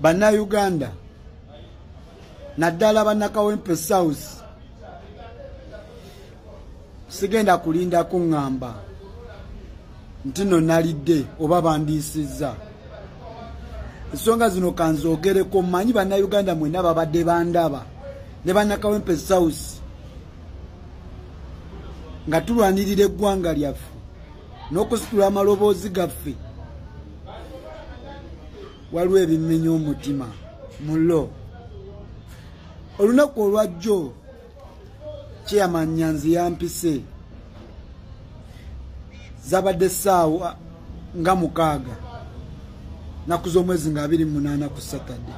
bannayuganda naddala bannakawempe south sigenda kulinda kuŋŋamba nti no nalidde oba bandiisizza ensonga zino kanzoogereko mmanyi bannayuganda mwenna babadde bandaba ne bannakawempe south nga tulwanirira eggwanga lyaffe n'okusitula amaloboozi gaffe waliwo ebimmenya omutima mulo olunaku olwajjo kyeyamanyanzi yampise zabadde saawa nga mukaaga naku z'omwezi nga abiri munaana ku satade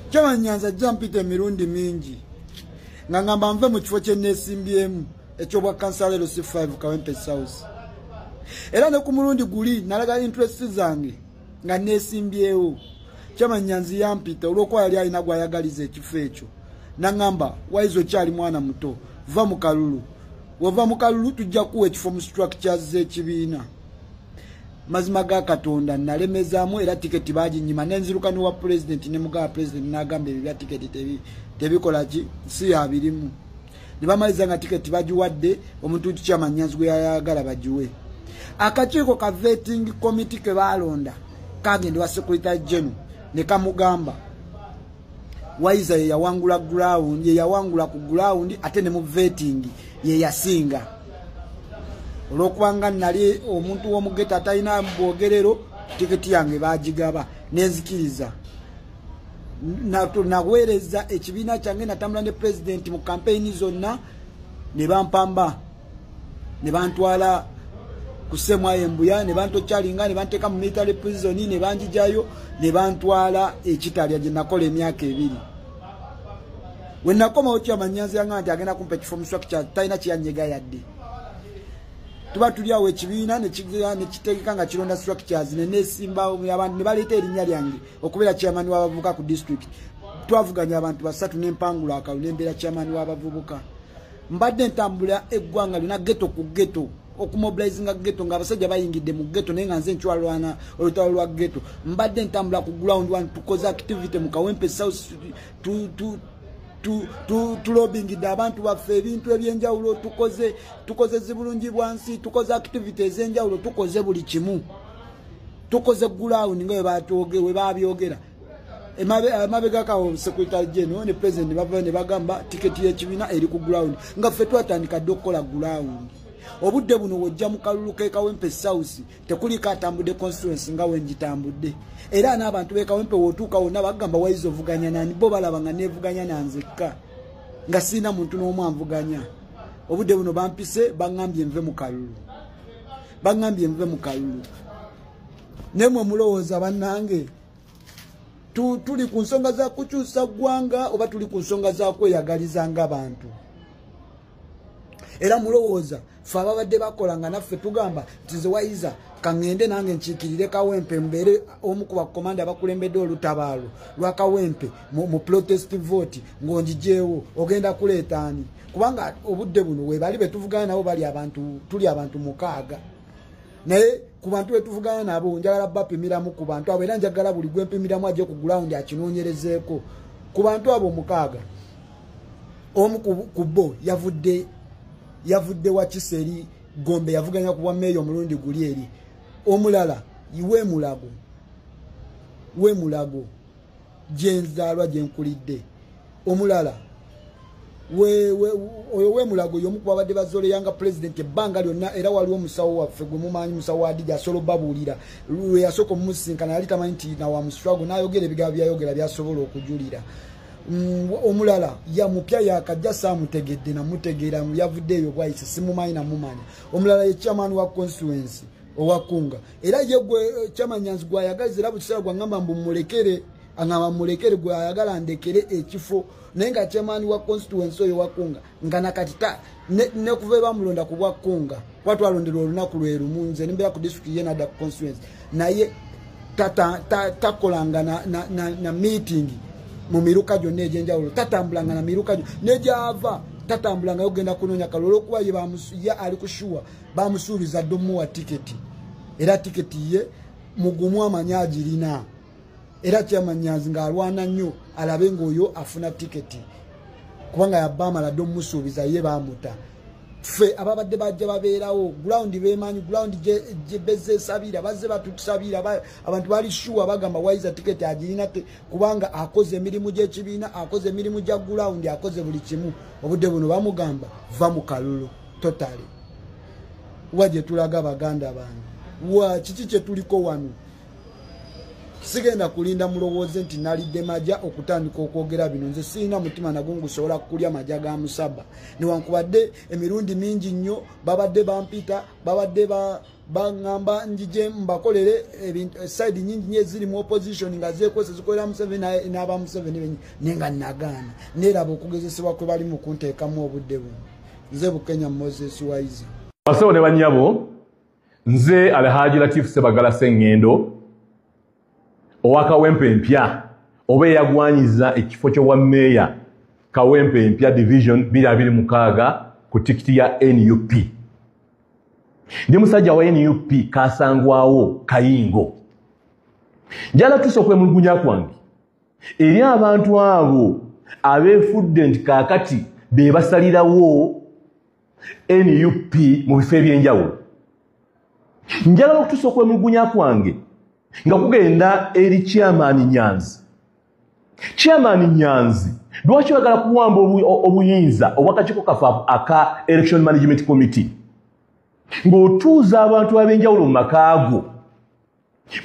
kyemanyanzi ajja mpita emirundi mingi nga ngamba nve mu kifo kyeneesimbyemu ekyobwa kansala ero si 5 kawempe south era ne ku mulundi guli nalaga interest zange nga nesimbyewo kyamanya nzi yampita olwokuba yali alina gwayagaliza ekifo ekyo naŋamba waizi okyali mwana muto va mu kalulu wava mu kalulu tujja kuwa ekifo mu structures z'ekibiina mazima ga katonda nalemezaamu era tiketi baginyima nenziruka nowa pulezidenti ne mugawa pulezidenti n'agamba ebyo bya tiketi tebikola ki si yabirimu ne bamaliza nga tiketi bagiwadde omuntu nti kyamanyanzi gwe yayagala bagiwe akakiiko ka vetting committee ke baalonda kagenda wa secretary general ne kamugamba waiza ye yawangula ground ye yawangula ku ground ate ne mu vetting ye yasinga olwokubanga nali omuntu w'omugeta atalina bwogerero tiketi yange baagigaba nenzikiriza naweereza ekibiina kyange natambula ne pulezidenti mu kampeyini zonna ne bampamba ne bantwala ku semwayo embuya ne bantokyalinga ne banteeka mu military prison ne banjijayo ne bantwala ekitalya gye nakola emyaka ebiri we nakomawo kyamanyanzi yanga nti agenda kumpa ekifo muswaki kya talina kyeyanyega yadde tuba tuli awo ekibiina nekitegeka nga kironda swaki kyazi nenesimbawo abantu ne baleeta erinnya lyange okubeera chairman w'abavubuka ku district twavuganya abantu basatu n'empangula akalu n'embeera chairman w'abavubuka mbadde ntambula eggwanga lyona geto ku geto okumobilizinga geto nga abasajja bayingidde mu geto naye nga nze nkyalwana olutalo lwa geto mbadde ntambula ku ground one tukoze activity mu kawempe south tulobingidde abantu baffe ebintu ebyenjawulo tukoze tukoze zibulungi bwansi tukoze activity ezenjawulo tukoze buli kimu tukoze gulawundi nga webabyogera emabegakawo secretary general ne president bavaa ne bagamba tiketi yekibiina eri ku gulawundi nga ffe twatandika dde okukola gulawundi obudde buno wojja mu kalulu kekawempe south tekuliko atambudde constituency nga wengitambudde era n'abantu bekawempe wotuuka wonna bagamba waiza ovuganya nani bo balaba nga nevuganya nanzekka nga sirina muntu n'omu anvuganya obudde buno bampise baŋambye nve mu kalulu bangambye nve mu kalulu naye mwe mulowooza bannange tuli ku nsonga za kukyusa ggwanga oba tuli ku nsonga za kweyagaliza nga bantu era mulowooza fe ababadde bakola nga naffe tugamba nti zewayiza kaŋŋende nange nkiikirire kawempe mbeere omu ku bakomanda abakulembedde olutabaalo lwa kawempe mu protest vote ng'ongijeewo ogenda kuleeta ani kubanga obudde buno webali betuvugana nabo bali abantu tuli abantu mukaaga naye ku bantu betuvugana nabo njagala bapimiramu ku bantu abo era njagala buli gwempimiramu aje ku gulawundi akinoonyerezeeko ku bantu abo omukaaga omu ku bo yavudde yavudde wakisa eri gombe yavuganya ku bwameeya omulundi guli eri omulala iwe mulago we mulago gyenzaalwa gyenkulidde omulala oyo wemulago yomu kubabadde bazoleyanga pulezidenti ebbanga lyonna era waliwo omusawo waffe gwe mumanyi musawo wadija asobola obabuulira lweyasooka omumusisinkana yali tamanyi nti nawamuswago nayogera ebigambo byayogera byasobola okujulira mm, omulala yamupya yakajja samutegedde namutegeera yavudde eyo bwayise simumanyi namumanya omulala ye chairman wa constituency owakunga era ye gwe eh, kyamanyanzi gwayagaza era bukiseera gwangamba mbu mulekere angamba mulekere gwayagala ndekere ekifo naye nga kyamaani wa constituency oyo wakunga nga nakati ta nekuva ebamulonda ku bwakunga kuba twalonderwa olunaku lwerumu nze nembeera ku district ye nada ku constituency naye takolanga na, na, na, na meeting mu miruka gyonna egyenjawulo tatambulanga na miruka gyo negyava tatambulangayo kugenda kunoonya kalulu olwokuba ye ali kushuwa bamusuubiza dda omuwa tiketi era tiketi ye mugumu amanyi agirina era kyamanyazi ng'alwana nnyo alabe ng'oyo afuna tiketi kubanga yabba amala dda omumusuubiza ye bamuta ffe ababadde bajja babeerawo gulawundi bemanyi gulawundi gyebezza esabira bazze batutusabira abantu bali shuwa bagamba waiza tiketi agirina te kubanga akoze emirimu gy'ekibiina akoze emirimu gya gulawundi akoze buli kimu obudde buno bamugamba va mu kalulu totally wa gye tulaga baganda bange wa kiki kye tuliko wano sigenda kulinda mulowooze nti nalidde maja okutandika okwogera bino nze sirina mutima nago ngusobola kukulya maja ga musaba newankubadde emirundi mingi nnyo babadde bampita babadde baŋamba njije mbakolere side nyingi nyo ezirimu opposition nga zekwesa zikolera museveni n'aba museveni benyi naye nga nagaana neeraba okugezesebwa kwe balimu kunteekamu obudde buno nze bukenya moses waiza basebo ne banyabo nze alhaji latif sebagala sengendo owakawempe empya oba eyagwanyiza ekifo kyobwa meeya kawempe empya division 226 ku tikiti ya nup ndi musajja wa nup kasangwawo kayingo njala tusa okwemulugunya kwange eri abantu abo abeefudde nti kaakati be basalirawo nup mu bifo eby'enjawulo njagala okutuusa okwemulugunya kwange nga kugenda eri kyamaani nyanzi kyamaani nyanzi lwaki oyagala kuwamba obuyinza obwakakiiko kafe aka election management committee ng'otuuza abantu ab'enjawulo mu makaago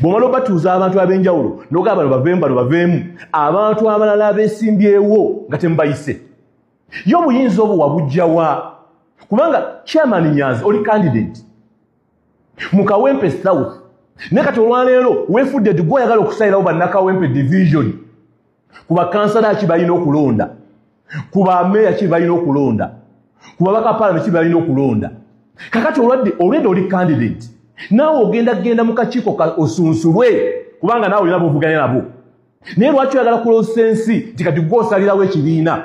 bwomala obatuuza abantu ab'enjawulo noga bano baveemu bano baveemu abantu abalala abesimbyewo nga temubayise ye obuyinza obwo wabujjawa kubanga chairman nyanzi oli candidate mu kawempe south naye kati olwaleero wefudde ti gwe oyagala okusayirawo bannakawempe division ku bakansala ki balina okulonda ku bameeya ki balina okulonda ku babaka paalame ki balina okulonda kakati olwadde olwedde oli candidate naawe ogenda kugenda mu kakiiko osunsulwe kubanga naawe olina bovuganya nabo naye lwaki oyagala kuloosa ensi nti kati gwe osalirawo ekibiina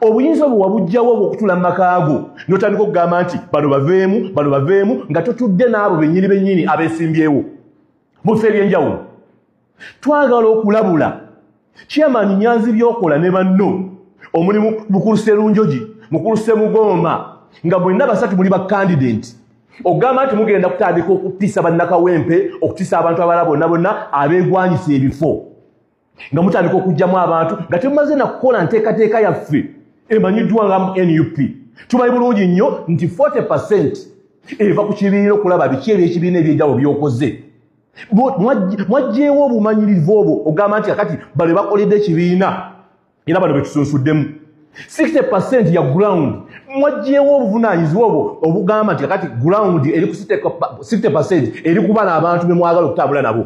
obuyinza obwo wabujjawo obwokutula mu makaago notandika okugamba nti bano baveemu bano baveemu nga totudde n'abo bennyini bennyini abesimbyewo mu bifo ebyenjawulo twagala okulabula kyamani nyanzi byokola ne banno omulimu mukulu serunjogi mukulu semugomba nga bwenna basatu muli bakandidenti ogamba nti mugenda kutandika okutiisa bannakawempe okutiisa abantu abala bonna bonna abeegwanyisa ebifo nga mutandika okugyamu abantu nga temumaze nakukola nteekateeka yaffe emanyiddwa nga mu nup tumanyi bulungi nnyo nti 40 eva ku kibiina okulaba biki ebyekibiina ebyenjawulo byokoze mwajjeewo obumanyirivu obwo ogamba nti kakati bale bakoledde ekibiina era bano betusunsuddemu 60 percent ya ground mwajjeewo obuvunanyizibwa obwo obugamba nti kakati ground eri ku 60 percent eri kuba n'abantu bemwagala okutambula nabo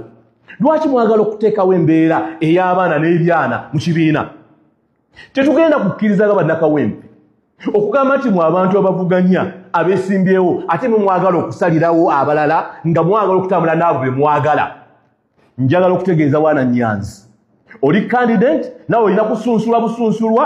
lwaki mwagala okuteekawo embeera ey'abaana n'ebyana mu kibiina tetugenda kukkirizaga bannakawempe okugamba nti mu abantu abavuganya abesimbyewo ate mwe mwagala okusalirawo abalala nga mwagala okutambula naabo be mwagala njagala okutegeeza waana nyanzi oli kandidate nawe olina kusunsula busunsulwa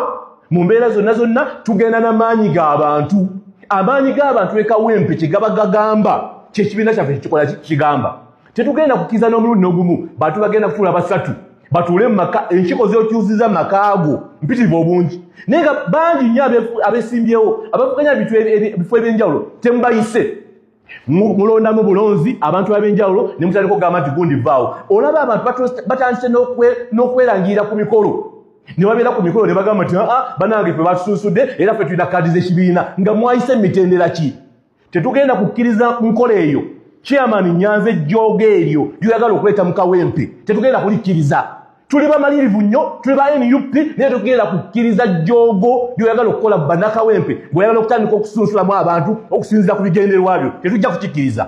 mu mbeera zonna zonna tugenda n'amaanyi g'abantu amaanyi g'abantu ekawempe kyegaba gagamba kyekibiina kyaffe kikikola kigamba tetugenda kukiza n'omulundi n'ogumu bantu bagenda kutuula basatu batuule mu maka enkiko z'okyuziza makaago mpitirivu obungi naye nga bangi nnyo abesimbyewo abavuganya ebifo ebyenjawulo temubayise mulondamu bulonzi abantu ab'enjawulo ne mutandika okugamba nti gundi vaawo olaba abantu batandise n'okwerangirira ku mikolo ne babeera ku mikolo ne bagamba nti aa ah, ah, banange fe batusunsudde era fe tulina kaadi z'ekibiina nga mwayise mu mitendera ki tetugenda kukkiriza nkola eyo chairman nyanza ejjooga eryo lyoyagala okuleeta mukawempe tetugenda kulikkiriza tuli bamalirivu nnyo tuli ba nup naye tetugenda kukkiriza jjoogo lyoyagala okukola mu banakawempe bweoyagala okutandika okusunsulamu abantu okusinzira ku bigendererwa byo tetujja kukikkiriza